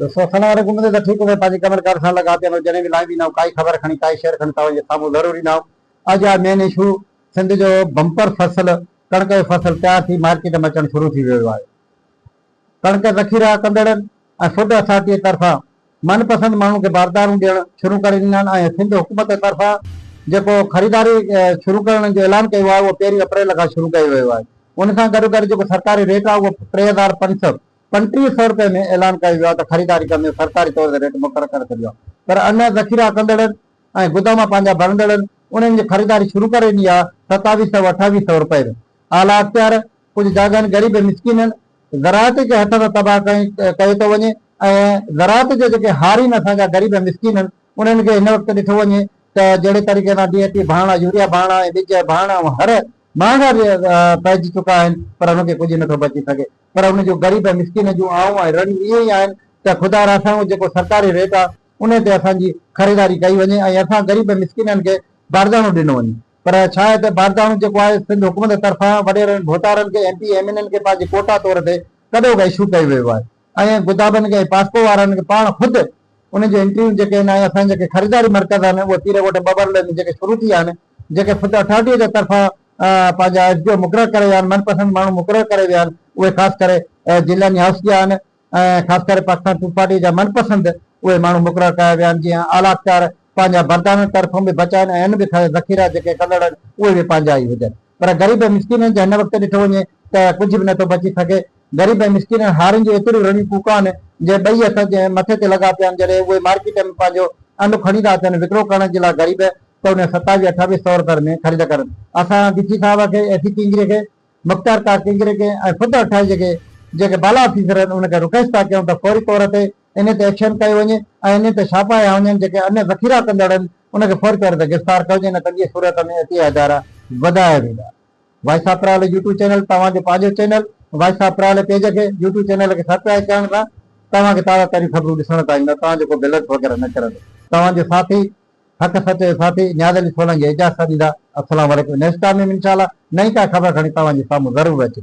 ڏسو سنان وري گهمندي ته ٺيڪ هوندي پنهنجي ڪمن ڪارن سان لڳاپيل هو جڏهن به لاهيندي نه هو ڪائي خبر کڻي ڪائي شعر کڻي توهان جي سامهون ضرور ايندا هو اڄ آهي مين اشو سنڌ جو بمپر فصل ڪڻڪ جو فصل تيار ٿي مارڪيٽ ۾ اچڻ شروع ٿي ويو آهي ڪڻڪ ذخيرا ڪندڙن ۽ فوڊ اٿارٽي طرفان من پسند ماڻهن کي باردارون ڏيڻ شروع ڪري ڏنا آهن ۽ سنڌ حڪومت طرفان جيڪو خريداري شروع ڪرڻ جو اعلان ڪيو آهي اهو پهرين اپريل کان شروع ڪيو ويو آهي ان سان گڏوگڏ جيڪو سرڪاري ريٽ آهي اهو ٽي هزار پنج سؤ پنجٽيهه سئو رپئي ۾ اعلان ڪيو ويو آهي ته خريداري ڪندڙن سرڪاري طور تي ريٽ مقرر ڪري ڇڏيو آهي پر اڃا ذخيرا ڪندڙن ۽ گدام پنهنجا ڀرندڙن انهن جي خريداري شروع ڪري ڏني آهي ستاويهه سئو اٺاويهه سئو رپئي ۾ اعليٰ اختيار ڪجهه جاڳائن غريب ۽ مسڪينن زراعت کي هٿ تان تباهه ڪئي ڪيو ٿو وڃي ۽ زراعت جا جيڪي هارين اسان جا غريب ۽ مسڪينن انهن کي هن وقت ڏٺو وڃي ته جهڙي طريقي سان ڊي اي پي ڀاڻا يوريا ڀاڻا ۽ ٻج ڀاڻا هر مهانگا پئجي چڪا آهن پر ان کي ڪجهه نٿو بچي سگهي پر ان جون غريب ۽ مسڪين جون آئون ۽ رڙيون اهي ئي آهن ته خدا را سائون جيڪو سرڪاري ريٽ آ انهي تي اسان جي خريداري ڪئي وڃي ۽ اسان غريب ۽ مسڪينن کي بارداڻو ڏنو وڃي پر ڇا آهي ته بارداڻو جيڪو آهي سنڌ حڪومت طرفان وڏيرن ڀوتارن کي M P M N N کي پنهنجي ڪوٽا طور تي ڪڏو ڪا اشو ڪيو ويو آهي ۽ گدابن کي ۽ پاسڪو وارن کي پاڻ خود انهن جون انٽريون جيڪي آهن ۽ اسان جا جيڪي خريداري مرڪز آهن اهي پيرڪوٽ ٻٻر لين جيڪي شروع ٿي آهن جيڪي فوڊ اٿارٽي جي طرفان پنهنجا ايس ڊي او مقرر ڪري ويا آهن، من پسند ماڻهو مقرر ڪري ويا آهن، اهي خاص ڪري ضلعن جا هائوس ڪيا آهن ۽ خاص ڪري پاڪستان پيپلز پارٽي جا من پسند اهي ماڻهو مقرر ڪيا ويا آهن، جيئن اعليٰ اختيار پنهنجا بردارن طرفون به بچا آهن ۽ هن به کڻي ذخيرا جيڪي ڪندڙ آهن اهي به پنهنجا ئي هجن پر غريب ۽ مسڪينن جي هن وقت ڏٺو وڃي ته ڪجهه به نه ٿو بچي سگهي، غريب ۽ مسڪينن هارين جون ايتريون رڙيون ڪوڪون آهن جي ٻئي هٿ جي مٿي تي لڳا پيا آهن، جڏهن اهي مارڪيٽن ۾ پنهنجو ان کڻي ٿا اچن وڪرو ڪرڻ جي لاء غريب. ته ان ستا جي اٺاويهه سؤر ٿر ۾ خريد ڪر. اسان ڊي سي صاحب کي، اي سي ڪينگري کي، مختيار ڪا ڪينگري کي ۽ خود اٺايجي کي جيڪي بالا آفيسر آهن انهن کي رڪويسٽ ٿا ڪيون ته فوري طور تي انهن تي ايڪشن ڪيو وڃي ۽ انهن تي ڇاپا هنيا وڃن جيڪي انهن ذخيرا ڪندڙ آهن انهن کي فوري طور تي گرفتار ڪيو وڃي نه ته ٻيء صورت ۾ عطيه ادارا وڌايا ويندا. Voice of Parali YouTube channel توهان جو پنهنجو channel voice of Parali page کي يوٽيوب چينل کي سبڪرائيب ڪرڻ سان توهان کي تازا ترين خبرون ڏسڻ ته ايندا توهان جو ڪو بلنس وغيره نه ڪرندو توهان جو ساٿي. ھڪ سچي ساٿي نياز علي سولنگي اعجاز سان ڏيندا. السلام عليڪم نيشڪا ميم انشاء الله نئين ڪا خبر کڻي توھان جي سامھون ضرور اچي.